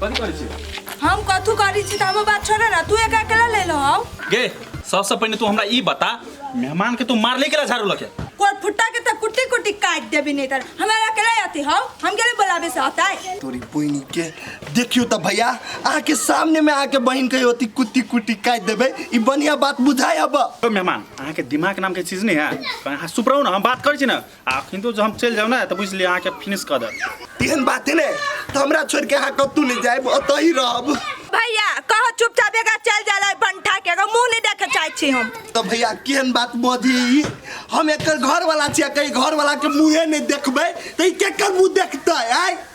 कथी करै छी हम कथू करी छी त हमर बात छोड़ ना तू एक अकेला ले लो आओ गे सबसे पहिले तू हमरा ई बता मेहमान के तू मार ले गेला झाड़ू लके कोर फुट्टा के त कुटी कुटी काट देबी नहीं तर हमारा अकेला आती हो हम के लिए बुलावे से आता है तोरी बहिनी के देखियो त भैया अहाँ के सामने में आके बहन के होती कुत्ती कुट्टी काट देबे ई बढ़िया बात बुझाय अब ओ मेहमान अहाँके दिमाग नामके चीज नहि है कहीं अहाँ चुप रहू ने हम बात करै छी ने आ किन्तु जब हम चलि जायब ने तऽ बुझि लिअ अहाँके फिनिश कऽ देब एहन बात है ने त हमरा छोड़ के अहाँ कतू नहीं जाए ओतऽ ही रहब भैया कहो चुपचाप एक चल जाला भंटा के एगो मुंह नहीं देखे चाहे छी हम त भैया केहन बात बधी हम एकर घर वाला छियै कहीं घर वाला के मुंहे नहीं देखबै त ई केकर मुंह देखतै आय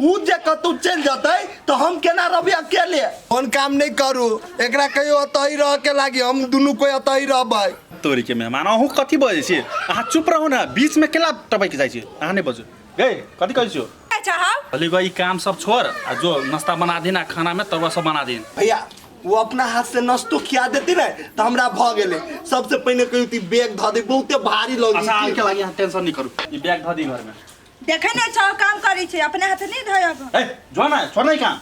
उ जे कतौ चल जतै तो हम केना रहबे अकेले कोन काम नहीं करू एकरा कहियो अतही रह के लागी हम दुनू कोई अतही रहबै तोरी के मेहमान अहू कथी बजै छी अहाँ चुप रहू ने बीच में केला टपक जाइ छी अहाँ नहीं बजू गए कथी कहै छियो अच्छा हाँ भले गई काम सब छोड़ आ जो नाश्ता बना दिन आ खाना में तरुआ सब बना दिन भैया वो अपना हाथ से नस्तो खिया देती ना तो हमरा भ गेले सबसे पहले कहियो ती बैग ध दे बहुते भारी लगी अच्छा आके लागी अहाँ टेंशन नहीं करू ई बैग धऽ दी घर में देखे नहीं छो काम करी छे अपने हाथ नहीं धोयब ए जो ना छोड़ नहीं काम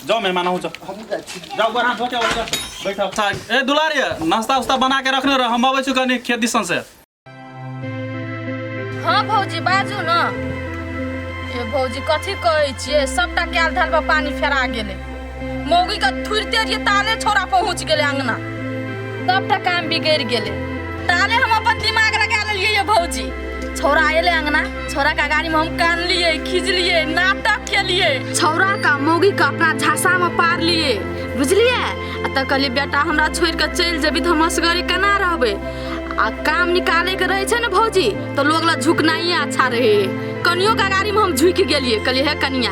जाओ मेहमान हो जाओ हम जा छी जाओ गोर हाथ धो के उधर बैठो अच्छा ए दुलारी नाश्ता उस्ता बना के रखने रह हम आवे छु कनी खेत दिसन से हाँ भौजी बाजू न ए भौजी कथी कहै छियै सबटा कयल धल पर पानी फेरा गेलै मौगी के थुरते जे ताले छोरा पहुंच गेले अंगना सबटा काम बिगड़ गेले ताले हम अपन दिमाग लगा लेलिए ये भौजी छोरा आयले अंगना छोरा का गाड़ी में हम कान लिए खींच लिए नाटक के लिए छोरा का मौगी का अपना झांसा में पार लिए बुझलिए आ त कहलिए बेटा हमरा छोड़ के चल जेबी तो हम असगरे केना रहबे आ काम निकाले के रहे छै ने भौजी तो लोग ला झुकनाइए अच्छा रहे कनियो का गाड़ी में हम झुक गेलिए कहलिए हे कनिया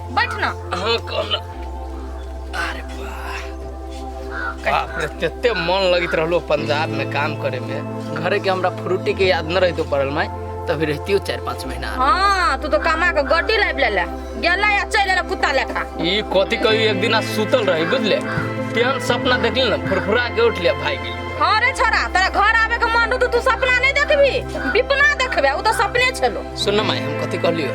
बैठ ना हाँ कल अरे वाह बाप रे तेते मन लगित रहलो पंजाब में काम करे में घरे के हमरा फ्रूटी के याद न रहतो पड़ल माय तभी रहती हो चार पाँच महीना हाँ तू तो कमा के गड्डी लाइब ले ले गेला या चल ले कुत्ता लेखा ई कथी कही एक दिन सुतल रही बुझले तेहन सपना देखली ना फुरफुरा के उठ लिया भाई गेली हाँ रे छोरा तोरा घर आवे के मन रहतो तू सपना नहीं देखबी बिपना देखबे उ तो सपने छलो सुन माय हम कथी कहलियो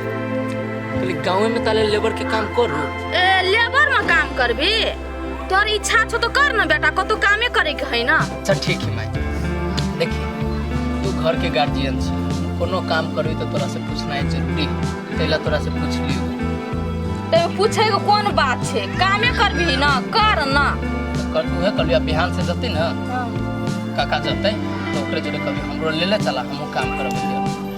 खाली गाँव में ताले लेबर के काम करू ए लेबर में काम करबी तोर इच्छा छो तो कर ना बेटा कतौ कामे करे के है ना अच्छा ठीक है माई देखी तू घर के गार्जियन छी कोनो काम करबी तो तोरा से पूछना है जरूरी है तैला तोरा से पूछ लियो ते पूछे के कोन बात छे कामे करबी ना कर ना तो कर उहे कर लिया बिहान से जते ना काका जते तो ओकरे जोरे कभी हमरो ले ले चला हमहू काम करब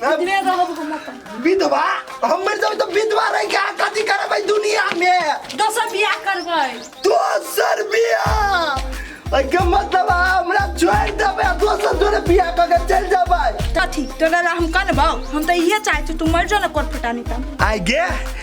कितने तो हम हम अपन विधवा हम मर जाऊ तो विधवा रह के आका दी करबै दुनिया में दोसर बियाह करबै दोसर बियाह अगे मतलब हमरा छोड़ देबै आ दोसर जोरे बियाह क के चल जाबै कथी तोरा ला हम करबौ हम तो इहे चाहै छी तू मर जो ना कोट फटानी तम आगे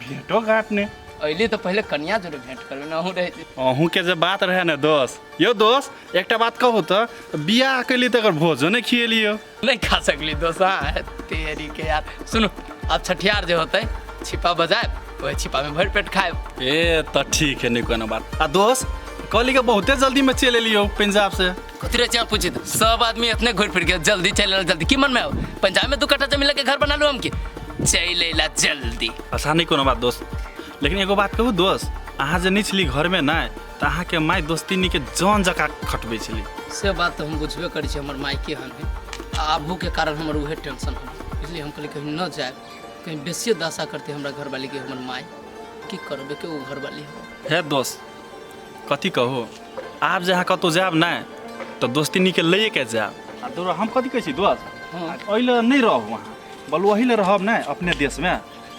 भेंटो घाट ने अइली तऽ पहिले कनिया जोरे भेंट करबे ना हूँ रहे छी अहूँ के जे बात रहे ने दोस्त यो दोस्त एकटा बात कहू तऽ बियाह कैली तकर भोजो नहि खियेलियो नहीं खा सकली दोस्त हाँ तेरी के यार सुनो अब छठियार जे होते छिपा बजाए वही छिपा में भर पेट खाए ए तऽ ठीक है नहि कोनो बात आ दोस्त कहली के बहुते जल्दी में चलि एलियो पंजाब से कथी रहे छै पूछित सब आदमी अपने घुर फिर के जल्दी चल आयल जल्दी की मन में आओ पंजाब में दू कट्ठा जमीन लेके घर बना लो हम की चल अला जल्दी आसान नहीं कोनो बात दोस्त लेकिन एगो बात कहू दोस्त अहाँ जे नहीं छली घर में ना तो अहाँ के माय दोस्ती नहीं के जान जका खटबे छली से बात तो हम बुझबे करी छी हमर माई के हन है आबू के कारण हमर उहे टेंशन हो इसलिए हम कहली कहीं न जाए कहीं बेसी दासा करते हमरा घर वाली के हमर माई की करबे के वो घर वाली है हे दोस्त कथी कहू आब जे अहाँ कतहु जायब ने तऽ दोस्तिनीके लैए के जायब आ दूर हम कथी कहै छी दोस्त एहि लए नहि रहब अहाँ बल ओही लए रहब ने अपने देशमे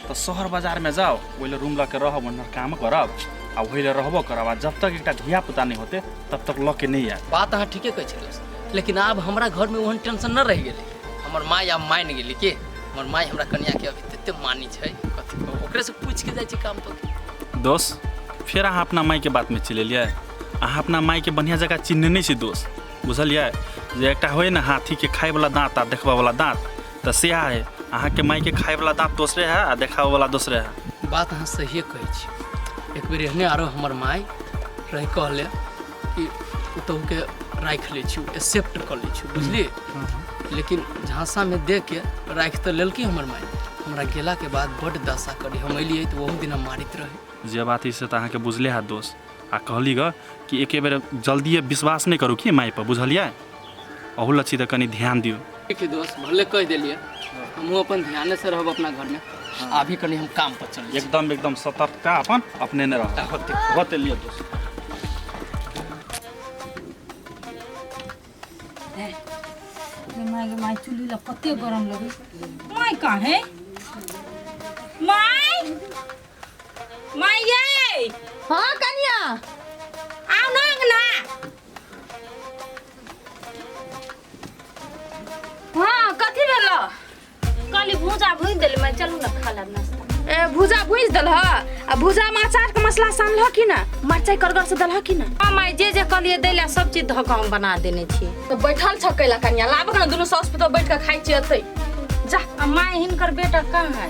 तऽ शहर बाजारमे जाउ ओहि लए रूम लऽ के रहब ओनहर काम करब आ ओही लए रहबो करब आ जब तक एकटा धिया पुता नहि होते तब तक लऽ के नहि आयब बात अहाँ ठीके कहै छी दोस्त लेकिन आब हमरा घरमे ओहन टेंशन नहि रहि गेलै हमर माय आब मानि गेली की हमर माय हमरा कनिया के अभी तते मानी छै कथी कहू ओकरे से पूछ के जाइ छै काम तो दोस्त फेर अहाँ अपना मायके बातमे चलि एलियै अहाँ अपना मायके बढ़िआँ जकाँ चिन्हने नहि छी दोस्त बुझलियै जे एकटा होइ ने हाथीके खायवला दाँत आ देखबयवला दाँत तऽ सएह हइ अहाँके मायके खायवला दाँत दोसरे हइ आ देखाबयवला दोसरे हइ बात अहाँ सहिए कहै छी एक बेर एहने आरो हमर माय रहि कहले कि ओतहुके राखि लै छी एक्सेप्ट कऽ लै छी बुझलियै हँ, हँ। लेकिन झाँसामे दे के राखि तऽ लेलकै हमर माय हमरा गेलाके बाद बड्ड दशा करी हम अयलियै तऽ ओहो दिना मारैत रहै जे बात है से तऽ अहाँके बुझले हैत दोस्त आ कहली ग कि एके बेर जल्दिए विश्वास नहि करू की मायपर बुझलियै अहू लच्छी तऽ कनि ध्यान दियौ देखिए दोस्त भले कह दिलिए हमहूँ अपन ध्यान से रहब अपना घर में अभी कनी हम काम पर चल एकदम एकदम सतर्कता अपन अपने ने रह होते होते लिए दोस्त माय माय चूल्ही ला कते गरम लगे माय काहे माय माय ये हाँ कनिया आओ ना अंगना हाँ कथी भेल काली भूजा भूज देल मैं चलू ना खा लेब नाश्ता ए, भुजा भुज दल आ भुजा में अचार के मसला सानल ह कि ना मरचाई करगर से दल ह कि ना हाँ माय जे जे कहलिए दैला सब चीज धऽ कऽ हम बना देने छी तो बैठल छ कैला कनिया लाबक ना दुनू साउस पुतोह बैठ के खाइ छी अतै जा आ माय हिनकर बेटा कहाँ है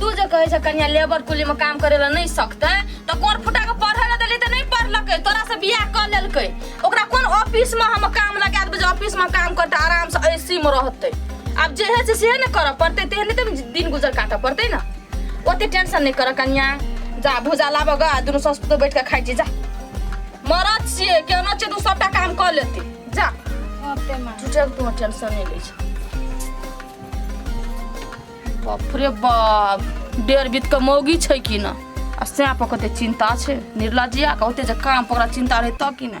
तू जे कहे छ कन्या लेबर कुली में काम करे ला नहीं सकते तो कोर फुटा के पढ़े ला देली तो नहीं पढ़लके तोरा से बियाह कर लेलके ओकरा कोन ऑफिस में हम काम लगा देबे जे ऑफिस में काम करते आराम से एसी में रहते अब जे है से से न कर पड़ते ते नहीं तुम दिन गुजर काटे पड़ते ना ओते टेंशन नहीं कर कन्या जा भुजा लाबा गा दुनु सस तो बैठ के खाइ छी जा मरद छिए केना छै तू सबटा काम कर लेती जा ओते माँ झूठे के तू टेंशन नहीं ले छ बाप रे बाप डेढ़ बीत के मौगी छै कि ना आ सैं पर कते चिंता छै निर्लजिया के ओते जे काम पर ओकरा चिंता रहै तब कि ना